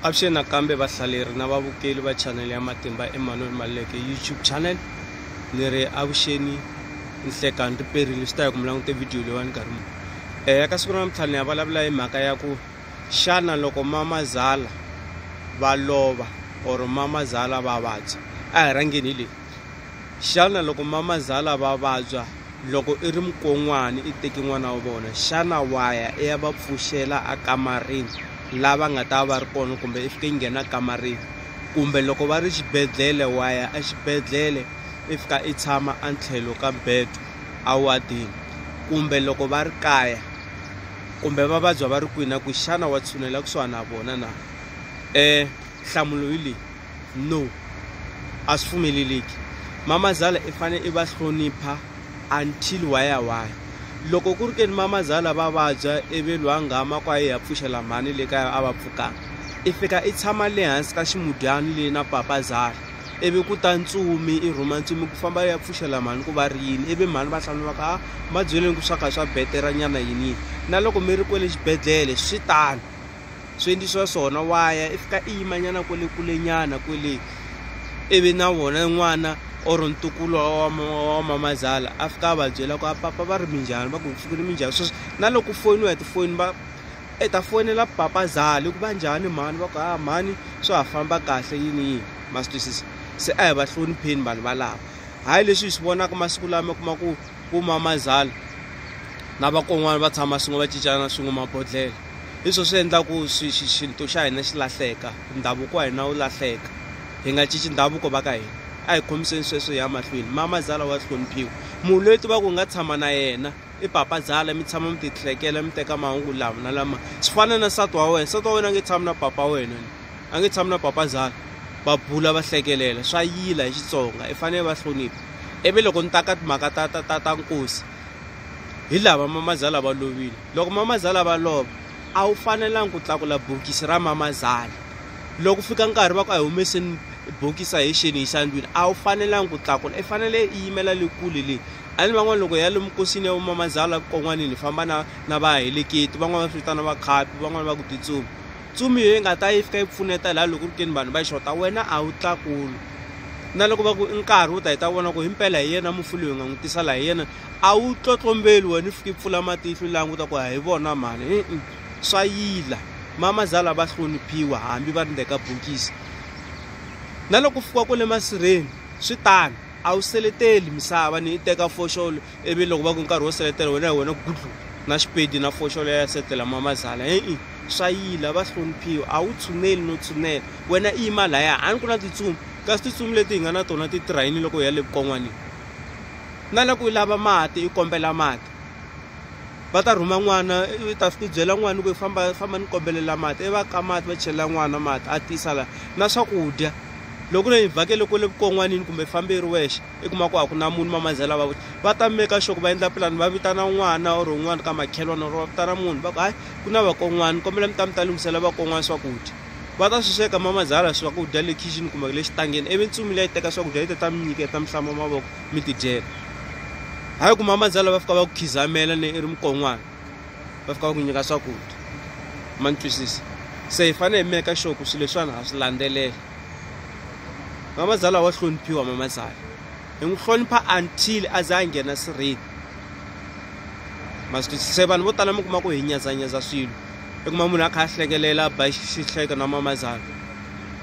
Avuxeni nakambe vahlaleri na vavukeli va chanele ya Matimba Emmanuel Maluleke YouTube channel ni ri avuxeni nhlekani ri perile swi ta ya ku mi langute video leyiwani nkarhi muni um eh, ya ka siku ra namuntlha ni ya vulavula hi mhaka ya ku xana loko mamazala va lova or mamazala va vabya a hi rhangeni hi leyi Xana loko mamazala va vabya loko i ri mukon'wana i teki n'wana wa vona xana wa ya i ya va pfuxela a kamarini lava nga ta va ri kona kumbe i fike i nghena kamarini kumbe loko va ri xibedhlele wa ya exibedhlele i fika i tshama a tlhelo ka bed a wadeni kumbe loko va ri kaya kumbe va vabya va ri kwihi na ku xana wa tshunela kusuhana na vona na nhlamulo hi leyi. no a swi pfumeleleki mamazala i fane i va hlonipha until why ya why loko ku ri ke ni mamazala va vabya ivi lwa nghama kwa ye ya pfuxela mhani le kaya a va pfukanga i fika i tshama le hansi ka ximudyani leyi na papazala ivi ku ta ntsumi i rhuma ntsumi ku famba ya pfuxela mhani ku va ri yini ivi mhani va hlamula va ka a ma byeleni ku swa kha swa betera nyana yini yini na loko mi ri kwele xibedhlele swi tano swi endlisiwa swona wa ya i fika i yimanyana kwele kulenyana kwele ivi na wona n'wana or ntukulu wa mamazala a fika a va byela ku a papa va ri minjhani va ku ku fikile minjhani sweswi na loko foyini ya tifoni va i ta foyinela papa zala ku va njhani mhani va ku ha mhani swa ha famba kahle yini yini ma swi twisisa se a hi va hlonipheni vanhu valava hayi leswi hi swi vonaka masiku lama kuma ku ku mamazala na vakon'wana va tshama swin'we va cincana swin'we mabodhlele hi swo swi endlaku swi xi xintu xa hina xi lahleka ndhavuko wa hina wu lahleka hi nga cinci ndhavuko va ka hina a hi khomiseni sweswo hi ya mahlweni mama zala wa hloniphiwa munhu loyi tiva ku hi nga tshama na yena i papa zala mi tshama mi ti hlekela mi teka mahungu lama na lama swi fana na nsati wa wena nsati wa wena a nge tshami na papa wa wena a nge tshami na papa zala va bula va hlekelela swa yila hi xitsonga i fanele va hlonipha ivi loko ni ta ka timhaka ta ta ta ta nkosi hi lava mamazala va lovile Loko mamazala va lova, a wu fanelangi ku tlakula bokisi ra mamazala. Loko ku fika nkarhi va ku a hi humeseni bokisi a hi xeni hi xandlwini, a wu fanelangi ku tlakula. I fanele i yimela le kule le. A ni van'wana loko hi ya lomu nkosini ya vamamazala kon'wanini hi famba na na vaheleketi, van'wana va swi vitana vakhapi, van'wana va ku titsumi. Tsumi yo yi nga ta yi fika yi pfuneta laha loko ku ri ke ni vanhu va xota, wena a wu tlakuli. Na loko va ku i nkarhi wo ta hi ta vona ku himpela hi yena mufi loyi hi nga n'wi tisa laha hi yena. a wu tlotlombeli wena i fike i pfula matihlo languta ku hi vona mhani i swa yila mama zala va hloniphiwa hambi va ri ndzeni ka bokisi na loko u fika kwale masirheni swi tano a wu seleteli misava ni i teka foxolo ivi loko va ku nkarhi wo seletela wena hi wena gudlu na xipedi na foxolo ya setela mama zala e-e swa yila va hloniphiwa a wu tshuneli no tshunela wena i yima laya a ni ku na titsumi kasi titsumi leti hi nga na tona ti tirha yini loko hi ya le vukon'wanini na la ku i lava mati i kombela mati va ta rhuma n'wana i ta i byela n'wana ku i famba famba ni kombelela mati i va ka mati va chelela n'wana mati a tisa la na swakudya loko ne ni vhakele kule vukon'wanini kumbe fambe i ri wexe i kuma ku a ku na munhu mamazela va va ta meka sure ku va endla pulani va vitana n'wana or un'wana ka makhelwani or va vitana munhu va ku hayi ku na vakon'wani kombela mi ta mi ta lunghisela vakon'wani swakudya Va ta swi sweka mamazala swakudya le khixini kumbe le xitangeni, ivi ntsumi leyi teka swakudya yi ta ta mi nyiketa, mi hlamba mavoko mi tidyela. Hayi ku mamazala va fika va ku khizamela ne i ri mukon'wana, va fika va ku nyika swakudya. Ma ni twisisa? Se hi fanele hi meka sure ku swilo leswiwani ha swi landzelela. Mamazala wa hloniphiwa mamazala, hi n'wi hlonipha until a za a nghena sirheni. Ma swi twisisa? Se vanhu vo tala mi kuma ku hi nyazanyaza swilo. i kuma munhu a kha a hlekelela a ba xihleka na mamazana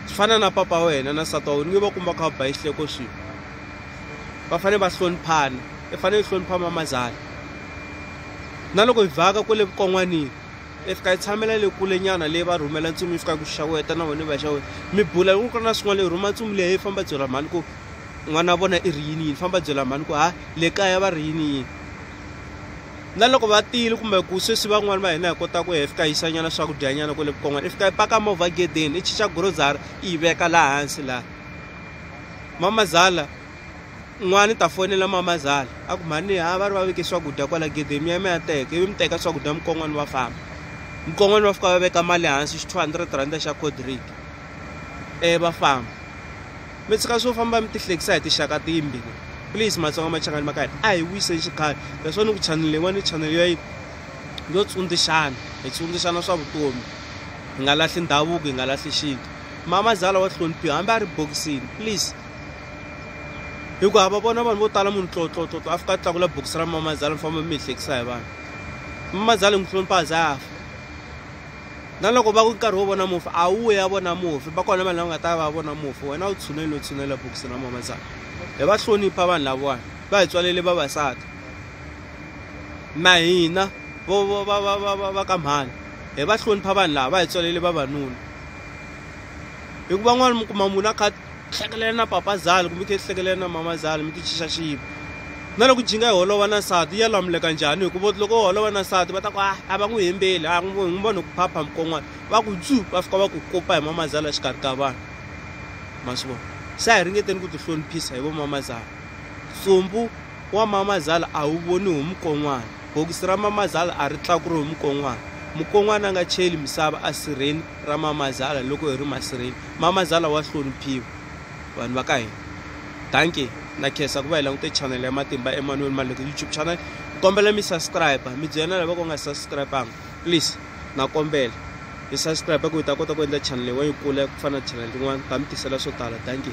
swi fana na papa wa wena na nsati wa wena ni va kumba kha va ba xihleko swilo va fanele va hloniphana i fanele i hlonipha mamazana na loko hi vhaka kwale vukon'wanini i fika yi tshamela le kule nyana leyi va rhumela ntsumi yi fika ku xaweta na wena va xa wena mi bula loko ku ri na swin'wana leyi rhuma ntsumi leyi famba byela mhani ku n'wana wa vona i ri yini yini famba byela mhani ku ha le kaya va ri yini yini na loko va tile kumbe ku sweswi van'wani va hina hi kota ku hi fika yi xanyana swakudyanyana kwale vukon'wana i fika yi paka movha gedeni i chicha grocery i yi veka laha hansi laha mama zala n'wana ta fonela mama zala a ku mhani ha va ri va veke swakudya kwala gedeni mi ya mi ya teka ivi mi teka swakudya mukon'wana va famba mukon'wana va fika va veka mali hansi xi two hundred rhanda xa codrick e va famba mi tshika swo famba mi tihlekisa hi tixaka timbi please matsonga machangani ma ka hina a hi wiseni xikhale leswo ni ku chanele yin'wana chanele yo yo tsundzuxana hi tsundzuxana swa vutomi hi nga lahli ndhavuko hi nga lahli xintu mama zala wa hloniphiwa hambi a ri bokisini please hikuva hava vona vanhu vo tala munhu tlotlotlotlo a fika a tlakula bokisi ra mama zala mi famba mi hi hlekisa hi vanhu mama zala hi n'wi hlonipha a za a fa na loko va ku nkarhi wo vona mufi a wu ya vona mufi va kona vanhu lava nga ta va vona mufi wena u tshunele u tshunela bokisi na mama tsaka hi va hlonipha vanhu lavawani va hi tswalele vavasati na hina va ka mhani hi va hlonipha vanhu lava va hi tswalele vavanuna hikuva n'wana mi kuma munhu a kha hlekelela na papazali kumbe khe hlekelela na mamazali mi ti chixa xipo na loko jinga yi holova na nsati ya lamuleka njhani hikuva loko u holova na nsati va ta ku a ah, a va n'wi hembeli a ah, n'wi n'wi vona ku phapha mikon'wana va ku dzu va fika va ku kopa hi mamazala exikarhi ka vanhu ma swi vona se a hi ringeteni ku tihloniphisa hi vo mamazala tsumbu wa mamazala a wu voni hi mukon'wana bokisi ra mamazala a ri tlakuri hi mukon'wana mukon'wana a nga cheli misava a sirheni ra mamazala loko hi ri masirheni mamazala wa hloniphiwa vanhu va ka hina danke na khesa ku va hi langute chanele ya matimba emanuel maleke youtube channel ni kombela mi subscribe mi byela lava ku nga subscribanga please na kombela mi subscribe ku hi ta kota ku endla chanele wa yi kula ku fana na chanele tin'wana ta mi tisela swo tala danke